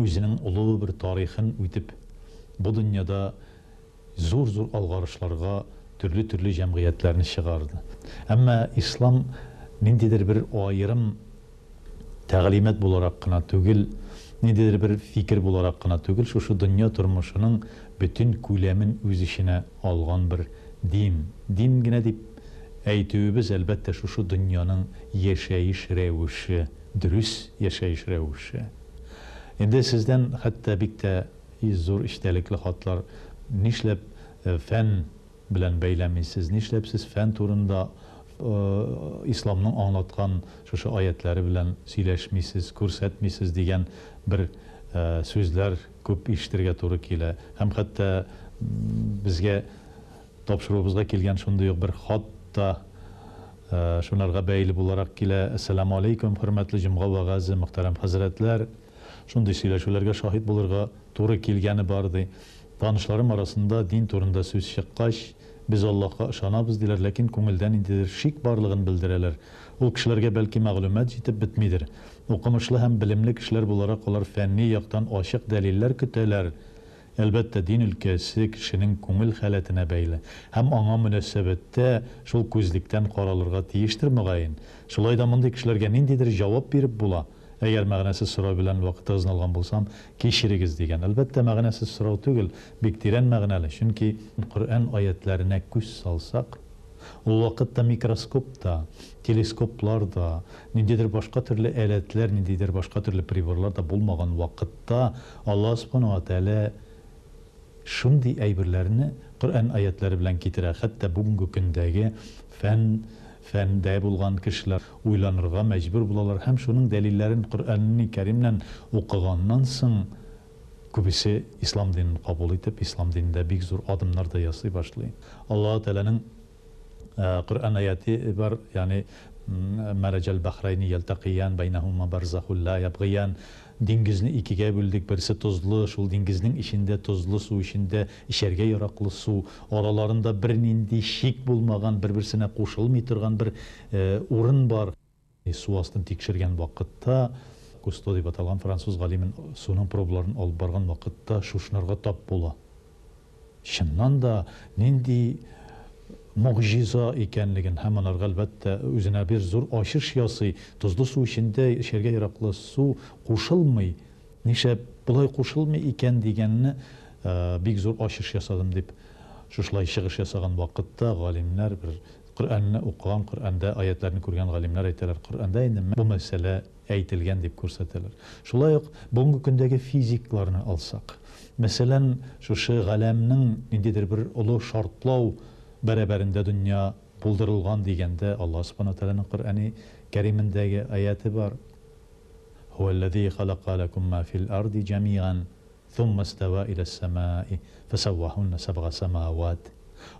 Үзенең олы бер тарихын үтеп, бу дөньяда зур-зур алгарышларга төрле-төрле җәмгыятьләрне чыгарды. Әмма ислам ниндидер бер аерым тәгълимат буларак кына түгел, ниндидер бер фикер буларак кына түгел, шушы дөнья тормышының бөтен күләмен үз эченә алган бер дин. Дин генә дип әйтүебез, әлбәттә, шушы дөньяның яшәеш рәвеше. Дөрес яшәеш рәвеше. Инде сездән хәтта бик тә зур эчтәлекле хатлар. Нишләп фән белән бәйләмисез? Нишләп сез фән турында Исламның аңлаткан шушы аятьләре белән сөйләшмисез, күрсәтмисез? дигән бер сүзләр күп ишетергә туры килә. Һәм хәтта безгә Тапшыруыбызга килгән шундый ук бер хат та шунарга бәйле буларак килә. Әссәламү-алейкүм, хөрмәтле җомга вәгазе, мөхтәрәм хәзрәтләр! Шундый сөйләшүләргә шаһит булырга туры килгәне бар, ди. Танышларым арасында дин турында сүз чыккач, без Аллаһка ышанабыз, диләр, ләкин күңелдә ниндидер шик барлыгын белдерәләр. Ул кешеләргә, бәлки, мәгълүмат җитеп бетмидер. Укымышлы һәм белемле кешеләр буларак, алар фәнни яктан ачык дәлилләр көтәләр, Әлбәттә, дин өлкәсе кешенең күңел халәтенә бәйле һәм аңа мөнәсәбәттә шул күзлектән каралырга тиештер, мөгаен. Шулай да мондый кешеләргә ниндидер җавап биреп була, Әгәр мәгънәсез сорау белән вакытыгызны алган булсам, кичерегез, дигән. Әлбәттә, мәгънәсез сорау түгел, бик тирән мәгънәле, чөнки. Коръән аятьләренә күз салсак. Ул вакытта микроскоп та, телескоплар да, ниндидер башка төрле әләтләр, ниндидер башка төрле приборлар да булмаган вакытта Аллаһ Субхана уа Тәгалә шундый әйберләрне Коръән аятьләре белән китерә, хәтта бүгенге көндәге фән, фәндә булган кешеләр уйланырга мәҗбүр булалар һәм шуның дәлилләрен Коръәнни Кәримнән укыганнан соң, Күбесе ислам динен кабул итеп, ислам динендә бик зур адымнар да ясый башлый. Аллаһу Тәгаләнең Коръән аяте бар, ягъни Мәрәҗәл бәхрәйни ялтәкыйян, бәйнәһума барзахун ла ябгыян, Диңгезне икегә бүлдек, берсе тозлы, шул диңгезнең эчендә, тозлы су эчендә, эчәргә яраклы су, араларында бернинди шик булмаган, бер-берсенә кушылмый торган бер урын бар. Су астын тикшергән вакытта, Кусто дип аталган француз галимен суның пробаларын алып барган вакытта шушынырга тап була. Чыннан да, нинди могҗиза икәнлеген һәм анарга, әлбәттә, үзенә бер зур ачыш ясый, тозлы су эчендә эчәргә яраклы су кушылмый, нишләп болай кушылмый икән дигәнне бик зур ачыш ясадым, дип шушылай чыгыш ясаган вакытта галимнәр бер Коръәнне укыган, Коръәндә аятьләрне күргән галимнәр әйтәләр, Коръәндә инде менә бу мәсьәлә әйтелгән дип күрсәтәләр. Шулай ук бүгенге көндәге физикларны алсак, мәсәлән, шушы галәмнең ниндидер бер олы шартлау бәрабәрендә дөнья булдырылган дигәндә Аллаһ Субхана ва Тәгаләнең Коръәни Кәримендәге аяте бар, һүәлләзи халәкә ләкүм ма фил арди җәмигән. Сумма става илә сәмаи фәсәвәһуннә сәбга сәмәавәт.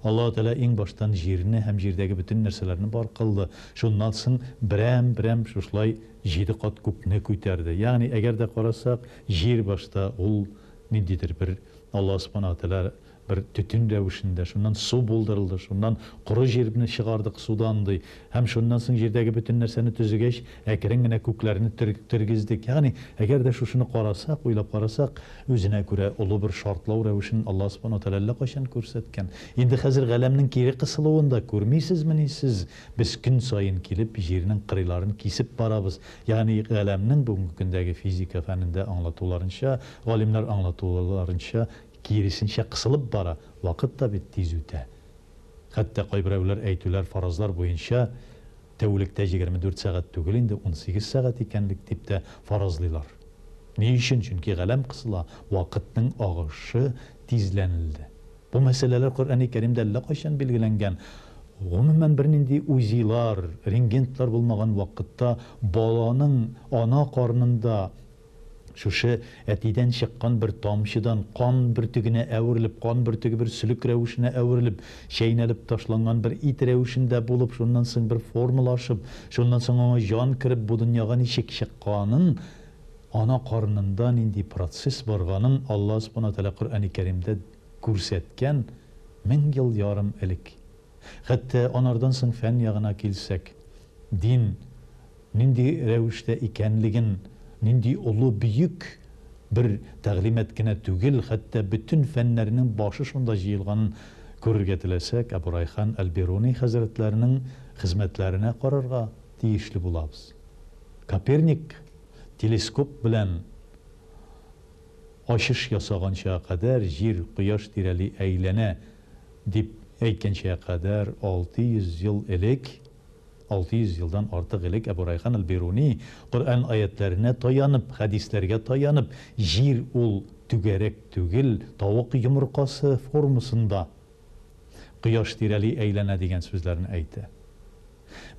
Аллаһу Тәгалә иң баштан җирне һәм җирдәге бөтен нәрсәләрне бар кылды, шуннан соң берәм-берәм шушылай җиде кат күкне күтәрде. Ягъни, әгәр дә карасак, җир башта ул ниндидер бер Аллаһу Субханаһу Тәгалә бер төтен рәвешендә, шуннан су булдырылды, шуннан коры җирне чыгардык судан, ди, һәм шуннан соң җирдәге бөтен нәрсәне төзегәч, әкрен генә күкләрне тергездек. Ягъни, әгәр дә шушыны карасак, уйлап карасак, үзенә күрә олы бер шартлау рәвешен Аллаһ Субхана ва Тәгалә әллә кайчан күрсәткән. Инде хәзер Галәмнең кире кысылуын да күрмисезмени сез? Без көн саен килеп, Җирнең кырыйларын кисеп барабыз. Ягъни, Галәмнең бүгенге көндәге физика фәнендә аңлатуларынча, галимнәр аңлатуларынча, Киресенчә кысылып бара, вакыт та бит тиз үтә. Хәтта кайберәүләр әйтүләр, фаразлар буенча, тәүлектә егерме дүрт сәгать түгел инде, унсигез сәгать икәнлек дип тә фаразлыйлар. Ни өчен? Чөнки галәм кысыла, вакытның агышы тизләнелде. Бу мәсьәләләр Коръәни Кәримдә әллә кайчан билгеләнгән. Гомумән, бернинди УЗИлар, рентгентлар булмаган вакытта баланың ана карнында, Шушы әтидән чыккан бер тамчыдан, кан бөртегенә әверелеп, кан бөртеге бер сөлек рәвешенә әверелеп, чәйнәлеп ташланган бер ит рәвешендә булып, шуннан соң бер формалашып, шуннан соң аңа җан кереп, бу дөньяга ничек чыкканын, ана карынында нинди процесс барганын Алла Субхана Тәгалә Коръәни Кәримдә күрсәткән мең ел ярым элек. Хәтта анардан соң фән ягына килсәк, дин нинди рәвештә икәнлеген, нинди олы бөек бер тәгълимат кенә түгел, хәтта бөтен фәннәрнең башы шунда җыелганын күрергә теләсәк, Әбу Райхан әл-Бируни хәзрәтләренең хезмәтләренә карарга тиешле булабыз. Коперник телескоп белән. Ачыш ясаганчыга кадәр Җир Кояш тирәли әйләнә дип әйткәнчегә кадәр 600 ел элек, 600 елдан артык элек Әбу Райхан әл-Бируни, Коръән аятьләренә таянып, хәдисләргә таянып, Җир ул түгәрәк түгел, тавык йомыркасы формасында Кояш тирәли әйләнә дигән сүзләрне әйтә.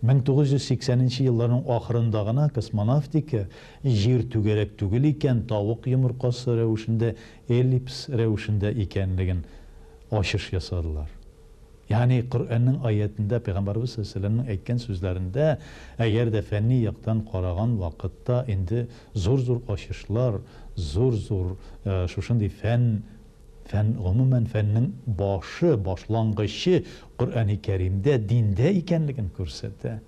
1980 нче елларның ахырында гына космонавтика Җир түгәрәк түгел икән, тавык йомыркасы рәвешендә, эллипс рәвешендә икәнлеген ачыш ясадылар. Ягъни Коръәннең аятендә, Пәйгамбәребез салләһу галәйһи ва сәлләмнең әйткән сүзләрендә, әгәр дә фәнни яктан караган вакытта инде зур-зур ачышлар, зур-зур шушындый фән Фән, гомумән, фәннең башы, башлангычы Коръәни Кәримдә, диндә икәнлеген күрсәтә.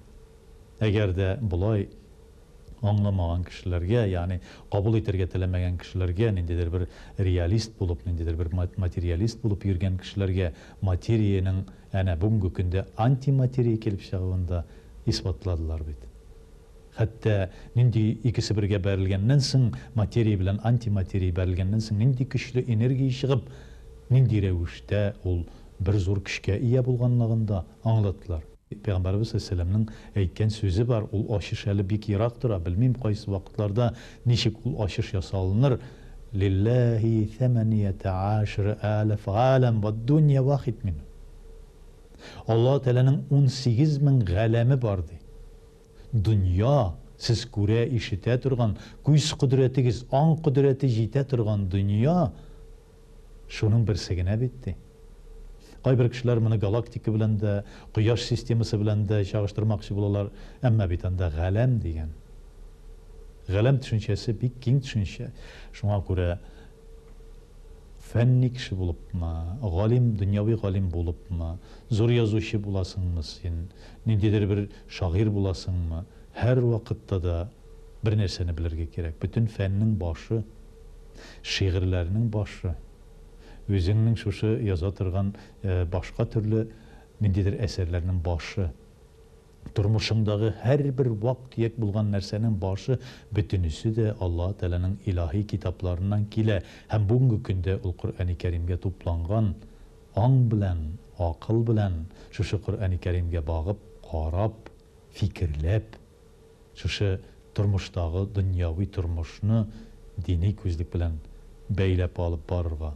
Әгәр дә болай аңламаган кешеләргә, ягъни кабул итәргә теләмәгән кешеләргә, ниндидер бер реалист булып, ниндидер бер материалист булып йөргән кешеләргә материянең әнә бүгенге көндә антиматерия килеп чыгуын да исбатладылар бит. Хәтта нинди икесе бергә бәрелгәннән соң, материя белән антиматерия бәрелгәннән соң нинди көчле энергия чыгып, нинди рәвештә ул бер зур көчкә ия булганлыгын да аңлаттылар. Пәйгамбәребез галәйһиссәламнең әйткән сүзе бар, ул ачыш әле бик ерак тора, белмим кайсы вакытларда ничек ул ачыш ясалыныр, Лилләһи сәмәнияте гашре аләф галәм вәд-дунья вахид минһум. Аллаһы Тәгаләнең унсигез мең галәме бар, ди. Дөнья, сез күрә, ишетә торган, күз кодрәтегез, аң кодрәте җитә торган дөнья шуның берсе генә бит, ди. Кайбер кешеләр моны галактика белән дә, Кояш системасы белән дә чагыштырмакчы булалар, әмма бит анда галәм дигән. Галәм төшенчәсе бик киң төшенчә. Шуңа күрә фәнни кеше булыпмы, галим, дөньяви галим булыпмы, зур язучы буласыңмы син, ниндидер бер Шагыйрь буласыңмы, һәрвакытта да бер нәрсәне белергә кирәк, бөтен фәннең башы, шигырьләрнең башы, үзеңнең шушы яза торган башка төрле ниндидер әсәрләрнең башы, тормышыңдагы һәрбер вак-төяк булган нәрсәнең башы, бөтенесе дә Аллаһы Тәгаләнең илаһи китапларыннан килә һәм бүгенге көндә ул Коръәни Кәримгә тупланган. Аң белән, акыл белән шушы Коръәни Кәримгә багып, карап, фикерләп, шушы тормыштагы дөньяви тормышны дини күзлек белән бәйләп алып барырга,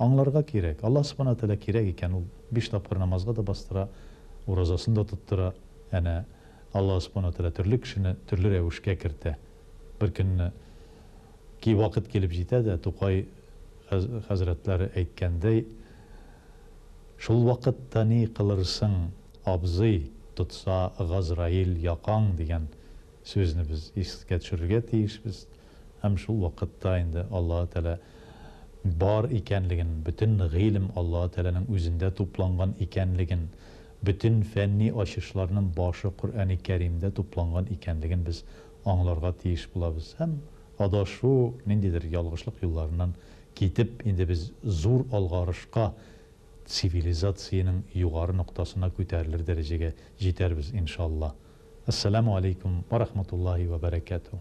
аңларга кирәк. Аллаһ Субхана Тәгалә кирәк икән, ул биш тапкыр намазга да бастыра, уразасын да тоттыра. Әнә Аллаһ Субхана Тәгалә төрле кешене төрле рәвешкә кертә. Беркөнне. Ки вакыт килеп җитә дә, Тукай хәзрәтләре әйткәндәй, Шул вакытта ни кылырсың, абзый, Тотса Газраил якаң, дигән сүзне без искә төшерергә тиешбез һәм шул вакытта инде Аллаһы Тәгалә бар икәнлеген, бөтен гыйлем Аллаһы Тәгаләнең үзендә тупланган икәнлеген, бөтен фәнни ачышларның башы Коръәни Кәримдә тупланган икәнлеген без аңларга тиеш булабыз һәм адашу, ниндидер ялгышлык юлларыннан китеп, инде без зур алгарышка, цивилизациянең югары ноктасына күтәрелер дәрәҗәгә җитәрбез, иншалла. Ассаламу алейкум вә рахматуллаһи вә бәрәкәтүһ.